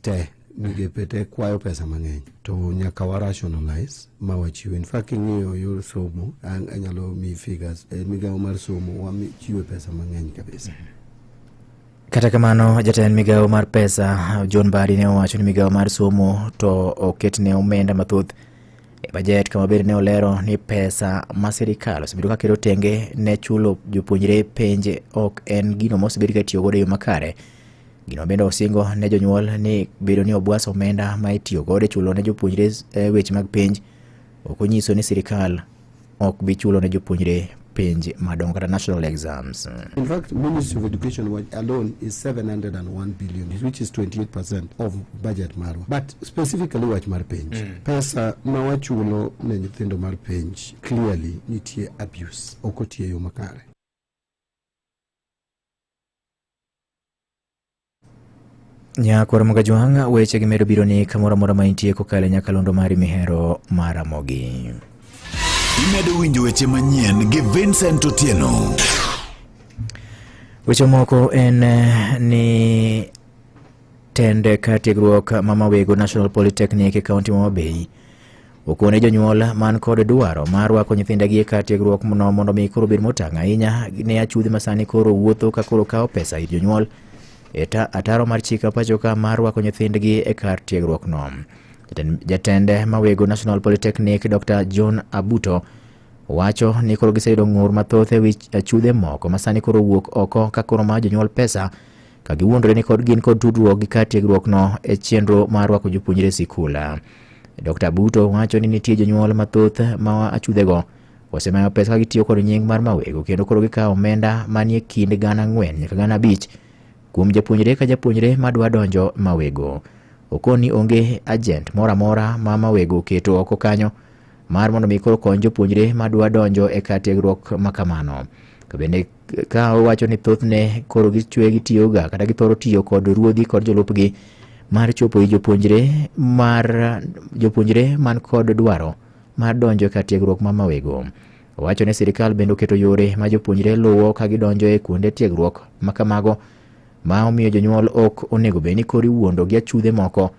te migepe te kwayo pesa mang'eny to nyaka wa rationalize ma wachiw in fact king'iyo yor somo an- anyalo mi figures e migawo mar somo wachiwe pesa mang'eny kabisa Kata kamano, jatend migawo mar pesa John Badi ne owacho ni migawo mar somo to oketne omenda mathoth e bajet kama bende ne olero ni pesa ma sirikal osebedo ka keto tenge ne chulo jopuonjre penje ok en gino mosebed ka tiyo godo e yo makare Gino bende osingo ne jonyuol ni bedo ni obwas omenda ma itiyo godo e chulo ne jopuonjre eh, weche mag penj ok onyiso ni sirkal ok bi chulo ne jopuonjre penj madongo kata national exams. In fact, Ministry of Education alone is 701 billion, which is 28% of budget marwa. But specifically wach mar penj, mm. pesa ma wachulo ne nyithindo mar penj clearly nitie abuse, ok otiyo yo makare. Nyakoro Mugajwang' weche gi medo biro ni kamoro amora ma intie kokalo e nyakalondo mari mihero maramogi. Imedo winjo weche manyien gi Vincent Otieno. Weche moko en eh, ni tende ka tiegruok ma Mawego National Polytechnic e kaunti ma Mabei Okone jonyuol man kod dwaro mar rwako nyithindegi e kar tiegruok no mondo mi koro bed motang' ahinya ne achudhi masani koro wuotho ka koro kawo pesa ir jonyuol e ataro mar chika pachoka mar rwako nyithindgi e kar tiegruok no. Jatend mawego National Polytechnic Dr. John Abuto wacho ni koro giseyudo ng'ur mathoth e wi achudhe moko masani koro wuok oko ka koro ma jonyuol pesa ka giwuondore ni kod gin kod tudruok gi kar tiegruokno e chenro mar rwako jopuonjre e sikul. Dr. Buto wacho ni nitie jonyuol mathoth ma achudhego osemayo pesa ka gitiyo kod nying mar mawego kendo koro gikawo omenda manie kind gana ang'wen nyaka gana abich kuom japuonjre ka japuonjre madwa donjo mawego. Okoni onge ajent moro amora ma mawego oketo oko kanyo mar mondo mi koro kony jopuonjre madwa donjo e kar tiegruok ma kamano. To bende ka owacho ni thothne koro gichwe gitiyoga kata githoro tiyo kod ruodhi kod jolupgi mar chopo i jopuonjre mar jopuonjre man kod dwaro mar donjo ka tiegruok ma mawego owacho ni sirikal bende oketo yore ma jopuonjre luwo ka gidonjo e kuonde tiegruok ma kamago ma omiyo jonyuol ok onego bed ni koro iwuondo gi achudhe moko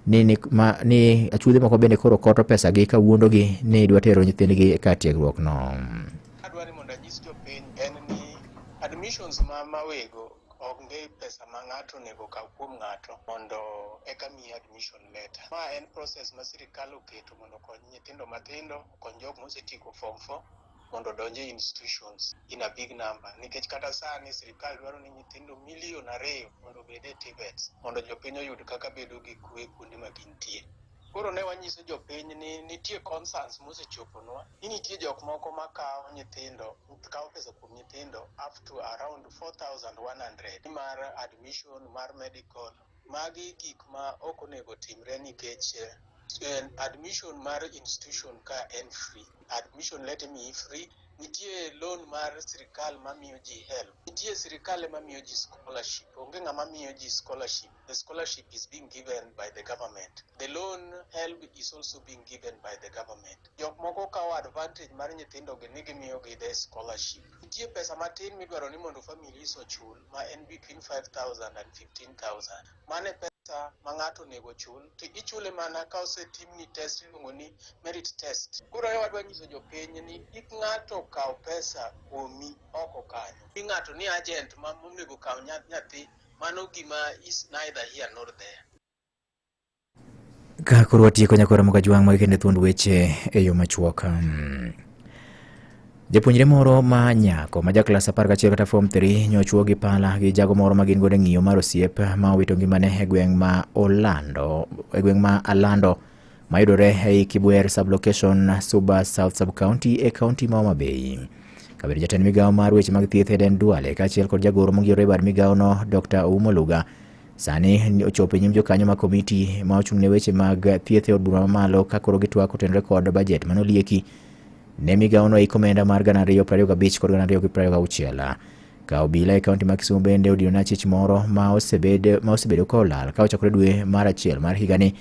ni, ni, ma, ni achudhe moko bende koro koto pesagi ka wuondogi ni dwa tero nyithindgi ka tiegruokno. Adwaro mondo anyis jopiny en ni admissions ma mawego onge pesa ma ng'ato onego okaw kuom ng'ato mondo eka miye admission letter. Ma en process ma sirikal oketo mondo okony nyithindo matindo, okony jok mosetieko form four mondo odonj e institutions in a big number nikech kata sani sirikal dwaro ni nyithindo milion ariyo mondo obed e TVETs mondo jopiny oyud kaka bedo gi kwe kuonde ma gintie. Koro ne wanyiso jopiny ni nitie concerns mosechoponwa ni nitie jok moko ma kawo nyithindo kawo pesa kuom nyithindo up to around 4100 mar admission mar medical magi gik ma ok onego timre nikech eh, admission mar institution ka en free admission let me free nitie loan mar sirikal mamiyo ji help nitie sirikal ema miyo ji scholarship onge ng'ama miyo ji scholarship The scholarship is being given by the government. The loan help is also being given by the government. Jok moko kawo advantage mar nyithindogi ni gimiyogi the scholarship. Nitie pesa matin midwaro ni mondo families ochul ma en between 5,000 and 15,000. Mane pesa ma ng'ato onego ochul to ichule mana ka osetimni test iluongo ni merit test. Koro e wadwa nyiso jopiny ni kik ng'ato kaw pesa kuomi oko kanyo. Ni ng'ato ni agent ma monego kaw nya- nyathi mano gima is neither here nor there. Ka koro watieko nyakora moka jwang' mag kende thuond weche e yo machuok. Hmm. Japuonjre moro ma nyako ma ja klas 11 kata form 3 nyochwo gi pala gi jago moro ma gin godo e ng'iyo mar osiep ma owito ngimane e gweng' ma Orlando e gweng' ma Alando mayudore ei Kibwer sublocation Suba South Subcounty e kaunti ma Homa Bay. Kabedo jatend migawo mar weche mag thieth Eden Duale kaachiel kod jagoro mongirore e bad migawono Dr. Oumo Luga sani ochopo e nyim jokanyo ma komiti ma ochung' ne weche mag thieth e od bura mamalo ka koro gitwak otenore kod bajet mane olieki ne migawono ei komenda mar gana ariyo prariyo gabich kod gana ariyo gi prariyo gauchiel ka obila e kaunti ma Kisumo bende odino na chich moro ma osebedo ka olal ka ochakore dwe mar achiel mar higani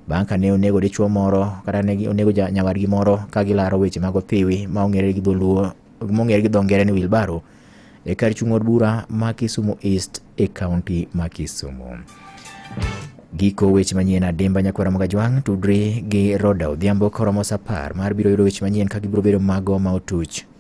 Bang' ka ne onego dichwo moro kata ne onego nyawadgi moro ka gilaro weche mag othiwi ma ong'ere gi dholuo mong'ere gi dho ngere ni wilbaro e kar chung' od bura ma Kisumu East e kaunti ma Kisumu. Giko weche manyien adimba nyakwara mag ajwang' tudri gi Roda Odhiambo koromo sa apar mar biro yudo weche manyien ka gibiro bedo mago ma otuch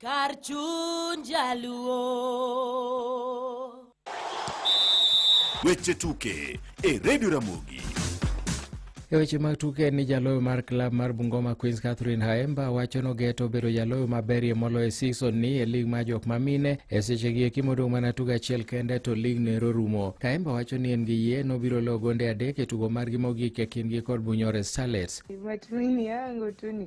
Kar chuny jaluo. Weche tuke e redio Ramogi. E weche mag tuke en ni jaloyo mar klab mar Bungoma Queens Catherine Haemba wacho nogeto bedo jaloyo maberie moloyo e season ni e lig mar jok mamine e sechegi eki modong' mana tugo achiel kende to lig nero rumo. Haemba wacho ni en gi yie nobiro loyo gonde adek e tugo margi mogik e kindgi kod Bunyore Starlets. Matumaini yangu tu ni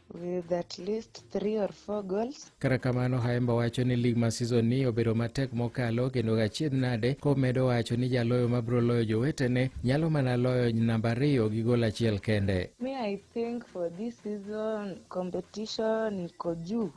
with at least three or four goals. Kata kamano Haemba wacho ni lig ma season ni obedo matek mokalo kendo gachiedh nade komedo wacho ni jaloyo ma biro loyo jowetene nyalo mana loyo namba ariyo gi gol achiel kende. Me I think for this season competition iko juu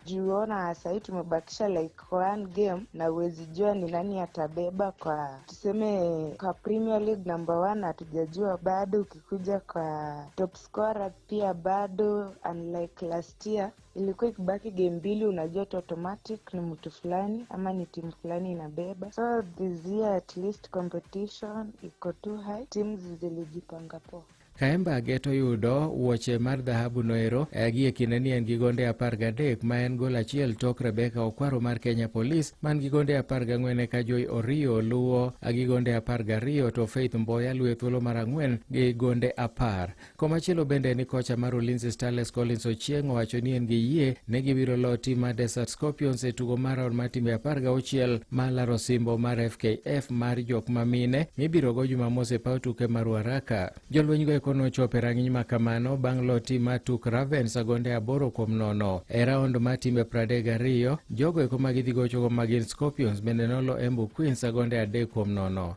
juona sahii tumebakisha like one game na huwezi jua ni nani atabeba kwa tuseme kwa Premier League number one hatujajua bado, ukikuja kwa top scorer pia bado unlike last year ilikuwa ikibaki game mbili unajua tu automatic ni mtu fulani ama ni timu fulani inabeba so this year at least competition iko too high teams zilijipanga poa Kaemba Geto yudo wuoche mar dhahabu noero eh, gie kinde ni en gi gonde apar gadek ma en gol achiel tok Rebecca Okwaro mar Kenya Police man gi gonde apar gang'wen eka Joy Orio luwo eh, gi gonde apar gariyo to Faith Mboya luwo e thuolo mar ang'wen gi gonde apar. Komachielo bende ni kocha mar Ulinzi Starlets Collins Ochieng owacho ni en gi yie ne gibiro loo tim mar Desert Scorpions e tugo mar raun mar timbe apar gauchiel ma laro simbo mar FKF mar jok ma mine mibiro go Jumamos e paw tuke mar Ruaraka. Jolweny go eko nochopo e rang'iny ma kamano bang' loo tim mar Tuk Ravens agonde aboro kuom nono. E raund mar timbe pradek gariyo, jogo eko ma gidhi gochogo ma gin Scorpions bende nolo Embu Queens agonde adek kuom nono.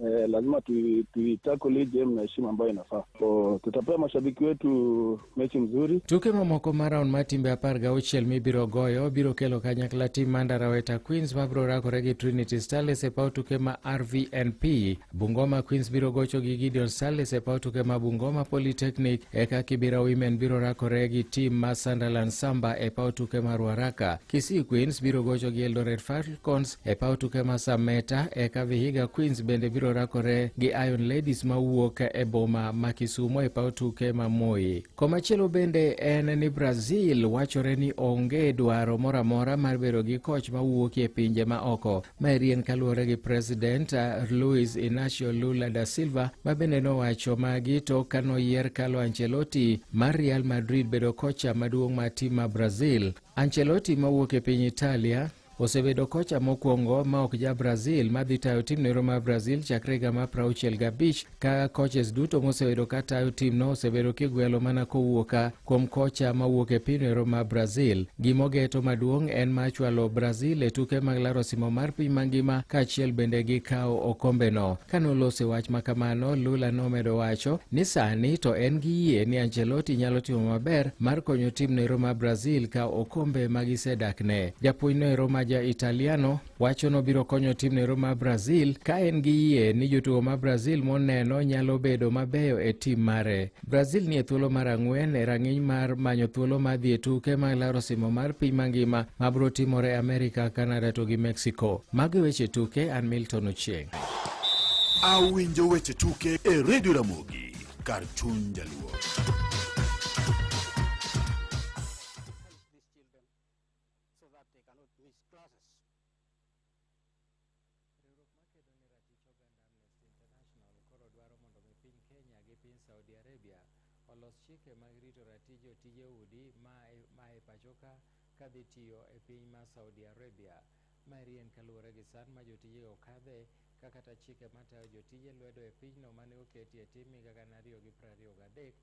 eh, lazima tui- tuitakuli game na heshima ambayo inafaa. So, tutapea mashabiki wetu mechi mzuri. Tuke mamoko ma raun mar timbe apar gauchiel mibiro goyo biro kelo kanyakla tim Mandaraweta Queens mabiro rakore gi Trinity Starlets e paw tuke ma RVNP. Bungoma Queens biro gocho gi Gideon Starlets e paw tuke ma Bungoma Polytechnic. Eka Kibira Women biro rakore gi tim ma Sunderland Samba e paw tuke ma Ruaraka. Kisii Queens biro gocho gi Eldoret Falcons E paw tuke ma Sameta eka Vihiga Queens bende biro rakore gi Iron Ladies ma wuok e boma ma Kisumo e paw tuke ma Moi. Komachielo bende en ni Brazil wachore ni onge dwaro moro amora mar bedo gi koch ma wuok e pinje ma oko. Ma rien kaluwore gi President uh, Luis Inacio Lula da Silva ma bende nowacho magi to ka noyier Carlo Ancelotti mar Real Madrid bedo kocha maduong' ma tim ma Brazil. Ancelotti ma wuok e piny Italia Osebedo kocha mokwongo ma ok ja Brazil ma dhi tayo tim nero mar Brazil chakre higa mar prauchiel gabich ka coaches duto mosebedo ka tayo timno osebedo kigwelo mana kowuoka kuom kocha ma wuok e piny nero mar Brazil. Gimogeto maduong' en ma chwalo Brazil e tuke mag laro simo mar piny mangima kaachiel bende gi kawo okombeno. Ka nolose wach ma kamano, Lula nomedo wacho ni sani to en gi yie ni Ancelotti nyalo timo maber mar konyo tim nero mar Brazil kawo okombe ma gisedakne. Japuonjno ero ma ja Italiano wacho ni obiro konyo timno ero ma Brazil ka en gi yie ni jotugo ma Brazil moneno nyalo bedo mabeyo e tim mare. Brazil nie thuolo mar ang'wen e rang'iny mar manyo thuolo mar dhi e tuke mag laro simo mar piny mangima ma biro timore e Amerika, Kanada to gi Mexico. Mago e weche tuke, an Milton Ochieng'. Awinjo weche tuke e redio Ramogi kar chuny jaluo. so that they cannot miss classes. Riwruok makedo ne ratich oganda Amnesty International koro dwaro mondo mi piny Kenya gi piny Saudi Arabia olos chike mag rito ratij jotije udi ma e- ma e pachoka ka dhi tiyo e piny ma Saudi Arabia. Ma eri en kaluwore gi sand ma jotijego kadhe ka kata chike matayo jotije lwedo e pinyno mane oketi e tim higa gana ariyo gi prariyo gadek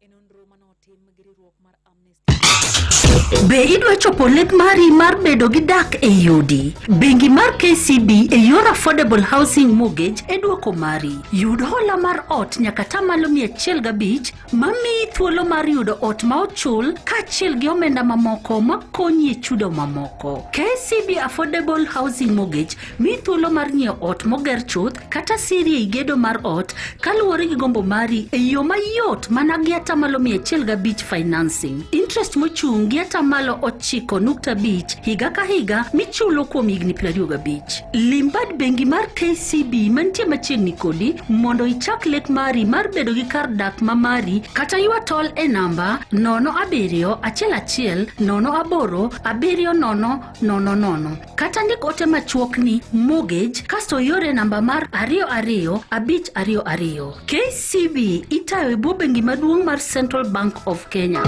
E nonro ma notim gi riwruok mar Amnesty Be idwa chopo lek mari mar bedo gi dak e yudi? Bengi mar KCB e yor Affordable Housing Mortgage e dwoko mari. Yud hola mar ot nyaka tamalo mia achiel gabich ma miyi thuolo mar yudo ot ma ochul kaachiel gi omenda mamoko ma konyi e chudo mamoko. KCB Affordable Housing Mortgage Mi thuolo mar nyiewo ot moger chuth kata siri ei gedo mar ot kaluwore gi gombo mari e yo mayot mana gi atamalo mia achiel gabich financing. Interest mochung' gi atamalo ochiko nukta abich higa ka higa michulo kuom higni piero ariyo gabich. Lim bad bengi mar KCB mantie machiegni kodi mondo ichak lek mari mar bedo gi kar dak ma mari kata ywa tol e namba nono abiriyo achiel achiel nono aboro abiriyo nono nono nono. kata ndik ote machuok ni mortgage kasto iore namba mar ariyo ariyo abich ariyo ariyo. KCB itayo e bwo bengi maduong' mar Central Bank of Kenya.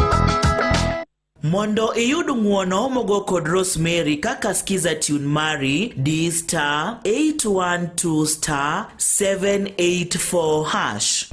Mondo iyud ng'uono mogo kod Rosemary kaka skiza tune mari di star 812 star 784 hash.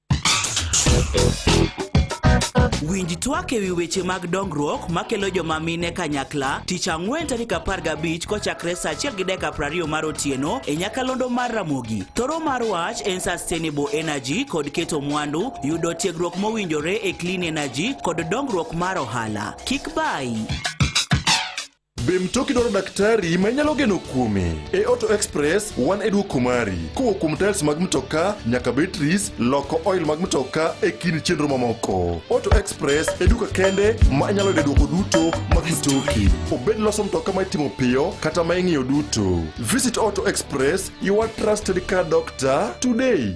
Winj twak e wi weche mag dongruok makelo joma mine kanyakla tich ang'wen tarik 15 kochakre sa 1 gi dakika 20 mar otieno e nyakalondo mar Ramogi. Thoro mar wach en Sustainable Energy kod keto mwandu, yudo tiegruok mowinjore e Clean Energy kod dongruok mar ohala. Kik bayi. Be mtoki dwaro daktari ma inyalo geno kuome? E Auto Express wan e dwoko mari. Kowo kuom tiles mag mtoka nyaka batteries, loko oil mag mtoka e kind chenro mamoko. Auto Express e duka kende ma inyalo yude dwoko duto mag mtoki. Obed loso mtoka ma itimo piyo kata ma ing'iyo duto. Visit Auto Express, your trusted car doctor today.